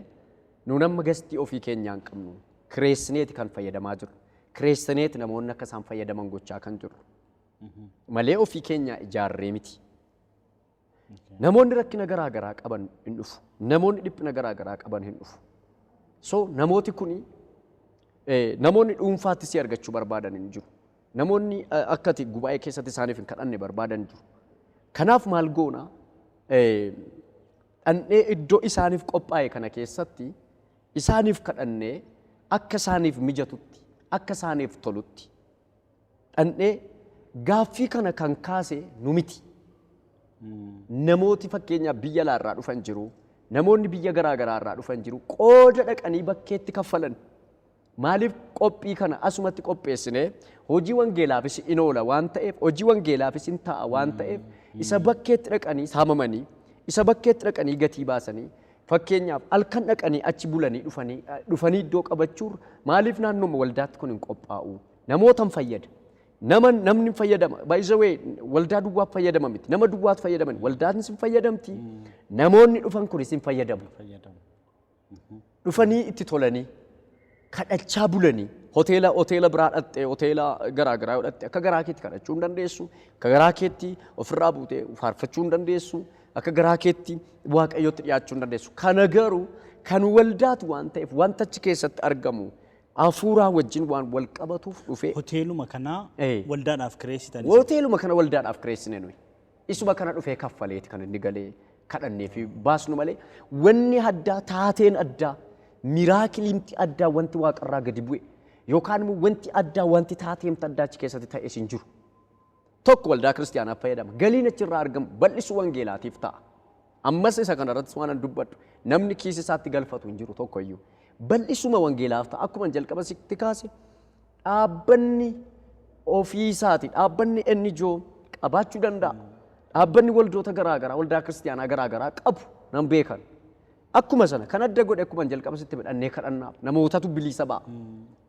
nuun amma gastii ofii keenyaa hin qabnu kireessineeti kan fayyadamaa jirru kireessineeti namoonni akka isaan fayyadaman gochaa kan jirru malee ofii keenyaa ijaarree miti. Namoonni rakkina garaa garaa qaban hin dhufu. Namoonni dhiphina garaa garaa qaban hin dhufu. So namooti kuni eh, namoonni dhuunfaatti si argachuu barbaadan hin jiru. Namoonni eh, akka ati gubaa'ee keessatti isaaniif hin kadhanne barbaadan hin jiru. Kanaaf maal goona? Eh, Dhannee iddoo isaaniif qophaa'e kana keessatti isaaniif kadhannee akka isaaniif mijatutti, akka isaaniif tolutti dhandhee gaaffii kana kan kaase nu miti. Namooti fakkeenyaaf biyya alaa irraa dhufan jiru. Namoonni biyya garaa garaa irraa dhufan jiru. Qooda dhaqanii bakkeetti kaffalan. Maaliif qophii kana asumatti qopheessinee hojii wangeelaafis in oola waan ta'eef hojii wangeelaafis in ta'a waan ta'eef isa bakkeetti dhaqanii saamamanii isa bakkeetti dhaqanii gatii baasanii fakkeenyaaf halkan dhaqanii achi bulanii dhufanii eh, dhufanii iddoo qabachuurra maaliif naannooma waldaatti kun hin qophaa'u Namootan fayyada. Nama namni fayyadama. By the way, waldaa duwwaaf fayyadama miti. Nama duwwaatu fayyadama. Waldaan sin fayyadamti. Namoonni dhufan kun sin fayyadamu. fayyadamu. Dhufanii itti tolanii kadhachaa bulanii hoteela hoteela biraa dhattee hoteela garaa garaa yoo dhatte akka garaa keetti kadhachuu hin dandeessu. Akka garaa keetti ofirraa buutee faarfachuu hin dandeessu. Akka garaa keetti waaqayyootti dhiyaachuu hin dandeessu. Kana garuu kan waldaatu waan ta'eef wanta achi keessatti argamu Hafuuraa wajjin waan wal qabatuuf dhufe. Hoteeluma kana Ee. waldaadhaaf kireessitan isin. Hoteeluma kana waldaadhaaf kireessine nuyi. Isuma kana dhufee kaffaleeti kan inni galee kadhannee fi baasnu malee wanni addaa taateen addaa miraakiliimti addaa wanti waaqarraa gadi bu'e yookaan immoo wanti addaa wanti taateemti addaa achi keessatti ta'es hin jiru. 1 waldaa kiristiyaanaaf fayyadama. Galiin achi irraa argamu bal'isuu wangeelaatiif ta'a. Ammas isa kana irrattis waanan dubbadhu namni kiisii isaatti galfatu hin jiru tokko iyyuu. Bal'isuma wangeelaaf ta'a. Akkuma jalqaba sitti kaase dhaabbanni ofii isaati. Dhaabbanni NGO qabaachuu danda'a. Dhaabbanni waldoota garaa garaa waldaa kiristiyaanaa garaa garaa qabu nan beekan. Akkuma sana kan adda godhe akkuman jalqaba sitti hime dhannee kadhannaaf namootatu biliisa ba'a.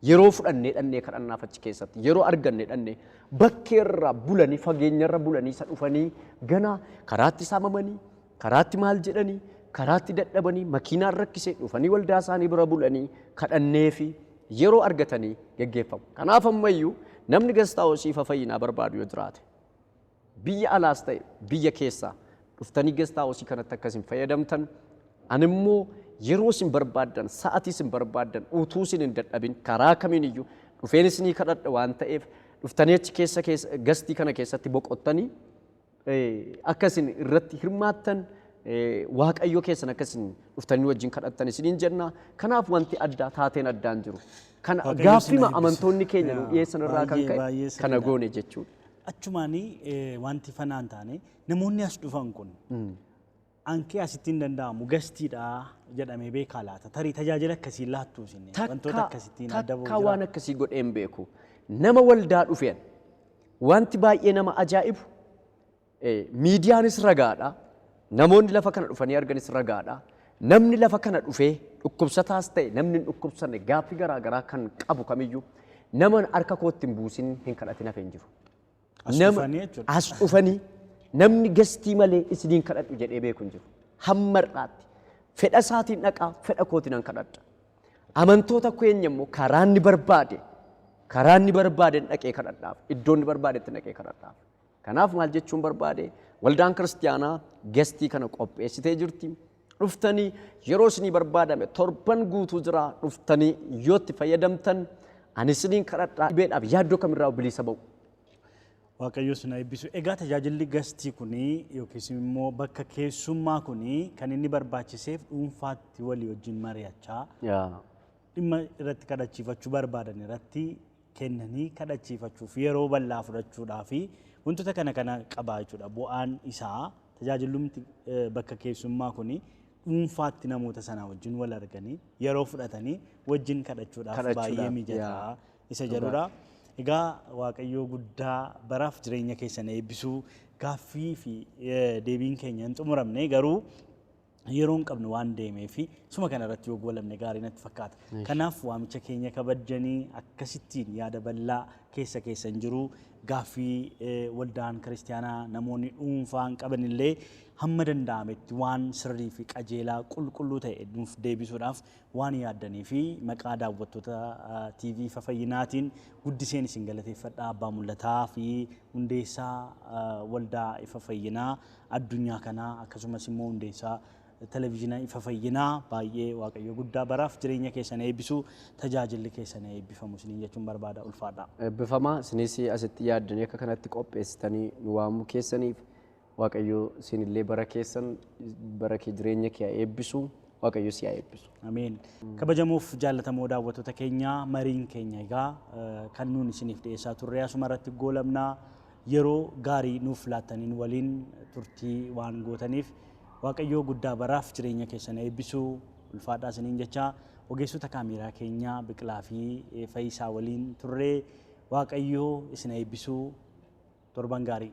Yeroo fudhannee dhannee kadhannaaf achi keessatti yeroo arganne dhannee bakkeerra bulanii fageenyarra bulanii isa dhufanii ganaa karaatti saamamanii karaatti maal jedhanii karaatti dadhabanii makiinaan rakkisee dhufanii waldaa isaanii bira bulanii kadhannee fi yeroo argatanii geggeeffamu. Kanaaf ammayyuu namni gastaawosii fayyinaa barbaadu yoo jiraate Biyya alaas ta'e biyya keessaa dhuftanii guest house kanatti akka isin fayyadamtan animmoo yeroo isin barbaaddan sa'atii isin barbaaddan utuu isin hin dadhabin karaa kamiiniyyuu dhufeen isinii kadhadha waan ta'eef dhuftanii achi keessa keessa gastii kana keessatti boqottanii akka isin irratti hirmaattan waaqayyo keessan akka isin dhuftanii wajjin kadhattan isiniin jenna kanaaf wanti addaa taateen addaan jiru kana Waaqayyo isin gaaffima eebbisu. amantoonni keenya nu Yaa, dhiyeessan irraa kan baay'ee- ka'e baay'ee kana sirriidha. goone jechuudha. Achumaani wanti fanaa hin taane namoonni as dhufan kun ankee asitti hin danda'amu gastiidha jedhamee beekaa laata tarii tajaajila akkasiin laattuu isin wantoota akkasittiin adda ba'u takkaa waan akkasii godhee hin beeku nama waldaa dhufeen wanti baay'ee nama ajaa'ibu miidiyaanis ragaadha Namoonni lafa kana dhufanii arganis ragaadha. Namni lafa kana dhufee dhukkubsataas ta'e namni hin dhukkubsanne gaaffii garaa garaa kan qabu kamiyyuu nama harka kootti hin buusin hin kadhatin hafe hin jiru. As Nama- dhufanii jechuudha. As dhufanii namni gestii malee isiniin kadhadhu jedhee beeku hin jiru. Hamma har'aatti fedha isaatiin dhaqaa fedha kootiin an kadhadha. Amantoota keenya immoo karaa inni barbaade karaa inni barbaadeen dhaqee kadhadhaaf iddoo inni barbaadetti dhaqee kadhadhaaf. Kanaaf maal jechuun barbaade waldaan kiristiyaanaa gestii kana qopheessitee jirti. Dhuftanii yeroo isinii barbaadame torban guutuu jira dhuftanii yoo itti fayyadamtan ani isiniin kadhadhaa dhibeedhaaf yaaddoo kamirraa bilisa ba'u. Waaqayyo sin eebbisu. Egaa tajaajilli gastii kuni yookiis immoo bakka keessummaa kuni kan inni barbaachiseef dhuunfaatti walii wajjin mari'achaa dhimma irratti kadhachiifachuu barbaadan irratti kennanii kadhachiifachuuf yeroo bal'aa fudhachuudhaa fi wantoota kana kana qabaa jechuudha. Bu'aan isaa tajaajillumti bakka keessummaa kuni dhuunfaatti namoota sanaa wajjin wal arganii yeroo fudhatanii wajjin kadhachuudhaaf baay'ee Kadhachuudhaaf, mijataa yaa. isa Dhugaa. jedhudha. Egaa Waaqayyoo guddaa baraaf jireenya keessan eebbisuu gaaffii fi eh, deebiin keenya hin xumuramne garuu yeroon qabnu waan deemee fi suma kana irratti yoo goolabne gaarii natti fakkaata. Kanaaf waamicha keenya kabajjanii akkasittiin yaada bal'aa keessa keessan jiru gaaffii waldaan kiristaanaa namoonni dhuunfaan qaban illee hamma danda'ametti waan sirrii fi qajeelaa qulqulluu ta'e nuuf deebisuudhaaf waan yaaddanii fi maqaa daawwattoota TV fayyinaatiin guddiseen isin galateeffadha abbaa mul'ataa fi hundeessaa waldaa ifa fayyinaa addunyaa kanaa akkasumas immoo hundeessaa televizhina ifa fayyinaa baay'ee waaqayyo guddaa baraaf jireenya keessan eebbisu tajaajilli keessan eebbifamu isiniin jechuun barbaada ulfaadha. Eebbifama isinis asitti yaaddanii akka kanatti qopheessitanii nu waamuu keessaniif waaqayyo isinillee bara keessan bara kee jireenya kee haa eebbisu waaqayyo si haa eebbisu. Ameen. Kabajamoof jaallatamoo daawwattoota keenya mariin keenya egaa eh, kan nuun isiniif dhiyeessaa turre asuma irratti goolabnaa yeroo gaarii nuuf laattaniin waliin turtii waan gootaniif Waaqayyoo guddaa baraaf jireenya keessan eebbisuu ulfaadhaa isiniin jechaa ogeessota kaameeraa keenyaa Biqilaa fi Fayisaa waliin turree Waaqayyoo isin eebbisuu torban gaarii.